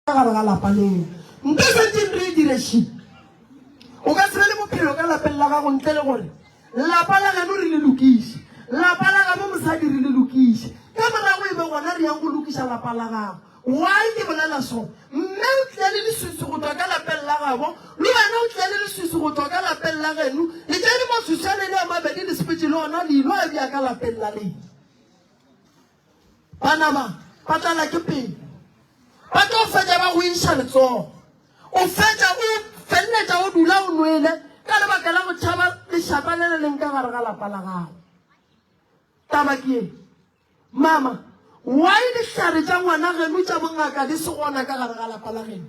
Ka gare ga lapa leo nka setseng re e direšile. O ka se be le bophelo ka lapeng la gago ntle le gore lapa la geno re le lokiše. Lapa la gabo mosadi re le lokiše. Ka morago e be gona re yang go lokiša lapa la gago. Why ke bolela so? Mme o tlile le leswiswi go tšwa ka lapeng la gabo, le wena o tlile le leswiswi go tšwa ka lapeng la geno, le tšere maswiswi a lena a mabedi le sepetše le ona le ilo a bea ka lapeng la lena. Ba nama ba tlala ke pelo. Ba tlo fetša ba go iša letsogo. O fetša o feleletša o dula o nwele ka lebaka la go tšhaba lešata le le leng ka gare ga lapa la gago. Taba ke ye, mama, why dihlare tša ngwana geno tša bongaka di se gona ka gare ga lapa la geno?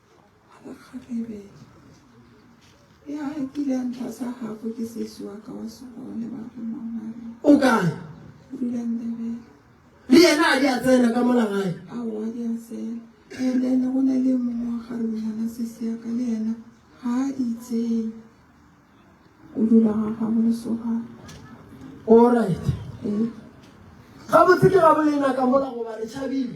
o kae le yena a di a tsena ka mola gae ene go na le mongwe wa gare bonyana sesiaka le yena ga a itseng o dula ga gago lesogana allright gabotse ke gabolena ka mola goba re tšhabile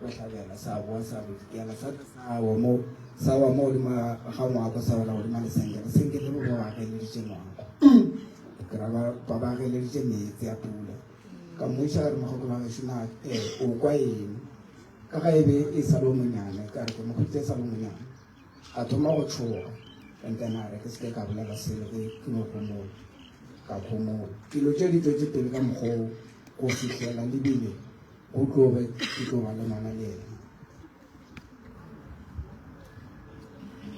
Sa hlabela, sa boa, sa bodikela, sa tla sa wa mo, sa wa mo godimo ga ngwako, sa wela godimo lesenge, lesenge le le wa ageleditše ngwako. Ke ra ba ba ba ageleditše meetse a pula. Ka mmuša re mogokolo wa gešo na eh, o kwa eng? Ka ga e be e sa le o monyane, ka re ke mo khutse e sa le o monyane. Ka thoma go tšhoga, ka ntana re ke se ke ka bolela selo ke ke mo gomola. Ka khomola. Dilo tše di tšwetše pele ka mokgwa wo go fihlela lebile Go tloge ke tlo ba le ngwana le yena.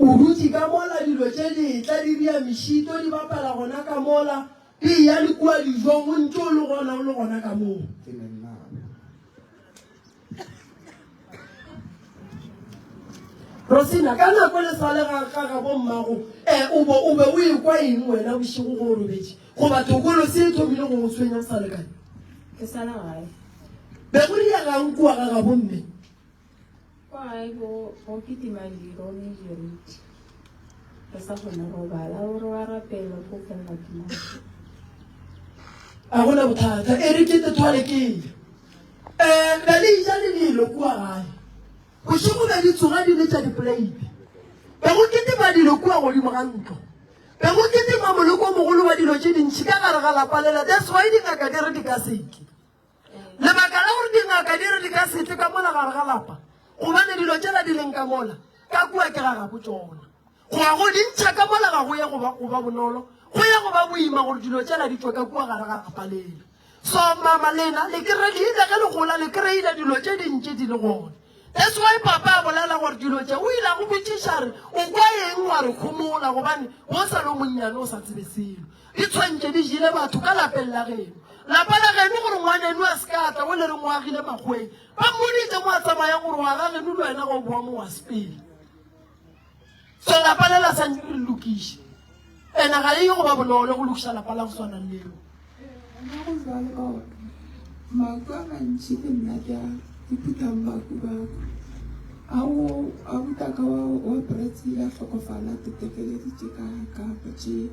O dutše ka mola, dilo tše di etla di ria mešito, di bapala gona ka mola, di eya le kua dijong, o ntše o le gona, o le gona ka moo. Ke ne nna. Rosina, ka nako le sa le ga ga ga bo mmago, eh, o bo o be o ekwa eng wena bošego go o robetše? Goba tokolo se e thomile go go tshwenya o sa le kae? Ke sa la gae. Be go rile gang kua ga gabo mme? Kwa gae go go kitima diro le jeriti. Re sa kgone go bala gore wa rapela go felela ke mang. A go na bothata. E re ke te thwale ke ile. Eh, be le ija le nilo kua gae. Bošego be di tsoga di le tša dipolaipi. Be go kitima dilo kua godimo ga ntlo. Be go kitima moleko o mogolo wa dilo tše dintši ka gare ga lapa lela. That's why dingaka di re di ka se tle. Lebaka la gore dingaka di re di ka se tle ka mola gare ga lapa, gobane dilo tšela di leng ka mola, ka kua ke ga gabo tšona. Go ya go dintšha ka mola ga go ye go ba bonolo, go ya go ba boima gore dilo tšela di tšwe ka kua gare ga lapa lela. So mama lena le kere le ile ge le gola le kry-ile dilo tše dintši di le gona. That's why papa a bolela gore dilo tše o ile a go botšiša re o kwa eng wa re khomola gobane o sa le o monnyane o sa tsebe selo. Di tshwantše di jile batho ka lapeng la geno. Lapa la geno gore ngwaneno a se ka a tla o le reng o agile makgweng. Ba mmoditše mo a tsamaya gore wa ga geno le wena ga o bowa mo wa sepele. so lapa le la sa nyake re lokiše ena ga e go ba bonolo go lokiša lapa la go swana leo maku a mantši ke nna ke a ithutang baku bako ao a butaka wa bretsi ya hlokofala tetekeleditše ka ka botše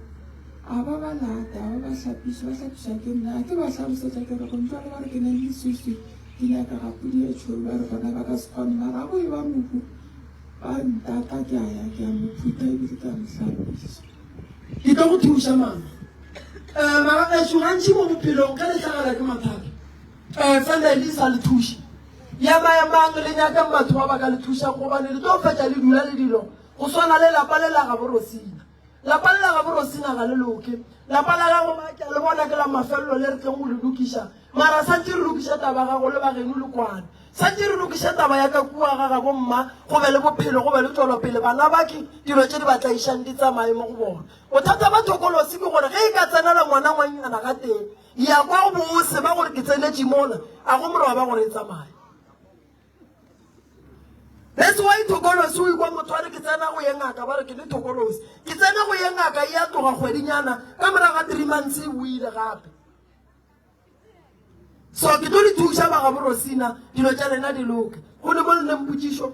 a ba ba lata a ba ba hlapiša ba hlapiša ke nna ke ba hlalosetša ke re gontsa le ba re ke nang le swiswi ke nyaka ga pudi e tšholo ba re bona ba ka se kgone mara go e ba moku Ba ntaka, ke a ya, ke a mo phutha ebile ke a mo hlapiša. Ke tlo go thuša, mama. Um, magagetšo, gantši mo bophelong ge le hlagela ke mathata, um, fela le sa le thuše. Ya ba ya mang le nyakang batho ba ba ka le thušang gobane le tlo fetša le dula le dilo go swana le lapa le la gaborosina. Lapa le la gabo Rosina ga le loke. Lapa la gabo ba ke le bona ke la mafelelo le re tleng go le lokiša. Mara santse re lokiša taba gago le bageno le kwana. Santse re lokiša taba ya ka kua ga gabo mma go be le bophelo go be le tswelopele bana ba ke dilo tše di ba tlaišang di tsamaye mo go bona. Bothata ba thokolosi ke gore ge e ka tsenela ngwana ngwannyana ga teng ya kwa go bose ba gore ke tsenetše mola a go moroba gore e tsamaye. That's why thokolosi o ikwa motho a re ke tsena go ye ngaka ba re ke le thokolosi ke tsena go ye ngaka e a tloga kgwedinyana ka morago ga three months e buile gape so ke tlo le thuša bagaborosina dilo tša lena di loke go ne mo le neng potsišo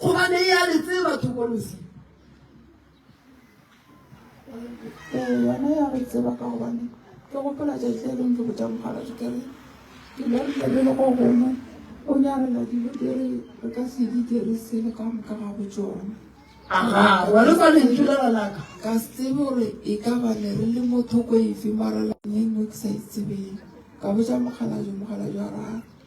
Gobane e a le tseba thokolosi. Ee, yona ya re tseba ka gobane ke gopola tšatši e leng ke botša mogala dikere ke le re tlebe le go gongwe o nyarela dilo di re re ka se di dirise le ka moka ga go tsone aga wa le kwane ke le ranaka ka se tsebe gore e ka ba ne re le motho ko efe mara la ne no ke sa itsebeng ka botša mogala jo mogala jo ra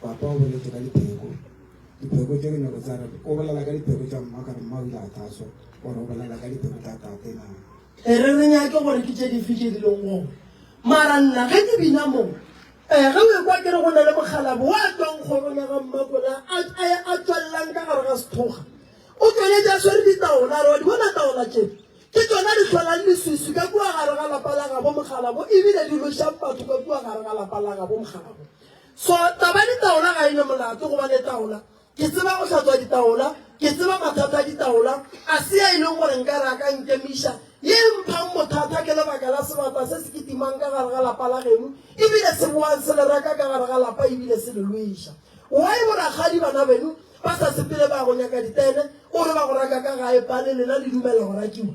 Papa o boletše ka dipheko, dipheko tše dinoko tsa re, o bolela ka dipheko tša mma, ka re mma o ile a taswa, gore o bolela ka dipheko tša tate na. E re re nyake gore ke tše dife tše di leng gone. Mara nna ge ke bina moo, um ge o ekwa ke re go na le mokgalabo wa tswang kgorong ya ga mmakola a tswalelang ka gare ga sethoga o tswaletse a swere ditaola re wa di bona taola tše ke tsona di tlholang leswiswi ka kua gare ga lapa la gabo mokgalabo ebile di lošang batho ka kua gare ga lapa la gabo mokgalabo So taba ya ditaola ga e ne molato goba le taola. Ke tseba go hlatswa ditaola, ke tseba mathata a ditaola, a se ya e leng gore nka re a ka nkemiša. Ye e mphang bothata ke lebaka la sebata se se kitimang ka gare ga lapa la geno ebile se boang se le reka ka gare ga lapa ebile se le lweša. Why bo rakgadi bana beno ba sa sepele ba ya go nyaka ditene, o re ba go raka ka gae bale lena le dumella go rakiwa?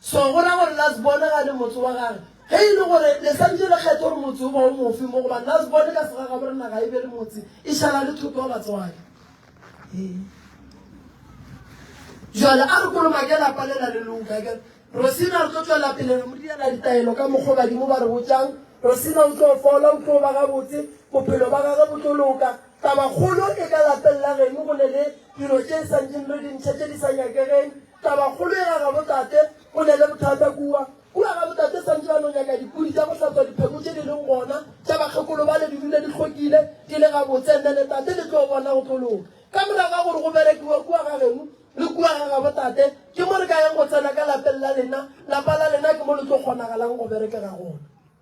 So go ra gore Lasbone ga le motse wa gage. Ge e le gore le santše le kgetha gore motse o ba o mofe mo, gobane Lasbone ka sega gabore naga e be le motse, e šala le thoko ya batswadi. Ee. Jale a re kolomake lapa le la le loka. Ke Rosina re tlo tšwela pele re mo direla ditaelo ka mokgo badimo ba re botšang. Rosina o tlo fola, o tlo ba gabotse, bophelo ba gage bo tlo loka. Taba kgolo e ka lapeng la geno go ne le dilo tše santšeng re di ntšha tše di sa nyakegeng. Tabakgolo e ga gabotate go na le bothata kua. Kua gabotate santse ba no nyaka dipudi tša go hlatswa dipheko tše di leng gona tša bakgekolo bale di dule di hlwekile, di le gabotse. Mme le tate le tlo bona go tlo loka. Ka morago ga gore go berekiwe kua ga geno le kua ga gabotate, ke mo re ka yeng go tsena ka lapeng la lena. Lapa la lena ke mo le tlo kgonagalang go berekega gona.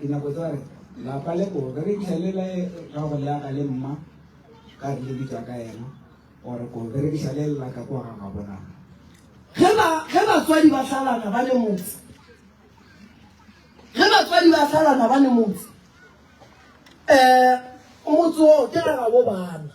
Dinako tsa re lapa le ko re itlhelela e ka go le aga le mma ka re le bitsa ka ena or ko re re bisa le lla ka kwa ga ga bona ge ba ge ba tswadi ba salana ba le motse ge ba tswadi ba salana ba le motse eh o motse o ke ga ga bo bana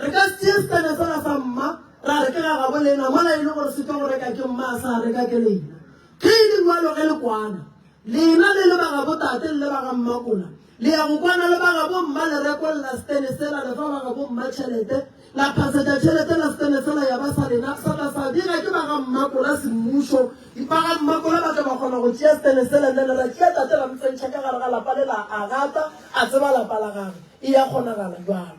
Re ka se tšee setena sela sa mma ra re ke ga gabo lena mola e le gore se tšwa go reka ke mma a sa reka ke lena. Ge e le bjalo ge le kwana, lena le le ba gabo tate le le ba ga mmakola, le ya go kwana le ba gabo mma le rekolla setene sela, le fa ba gabo mma tšhelete, la phasetša tšhelete la setene sela ya ba sa lena, sa tla sa bega ke ba ga mmakola semmušo. Ba ga mmakola ba tla ba kgona go tšea setene sela nna le ra tšea tate ra mo tsentšha ka gare ga lapa le la agata a tseba lapa la gagwe. E ya kgonagala bjalo.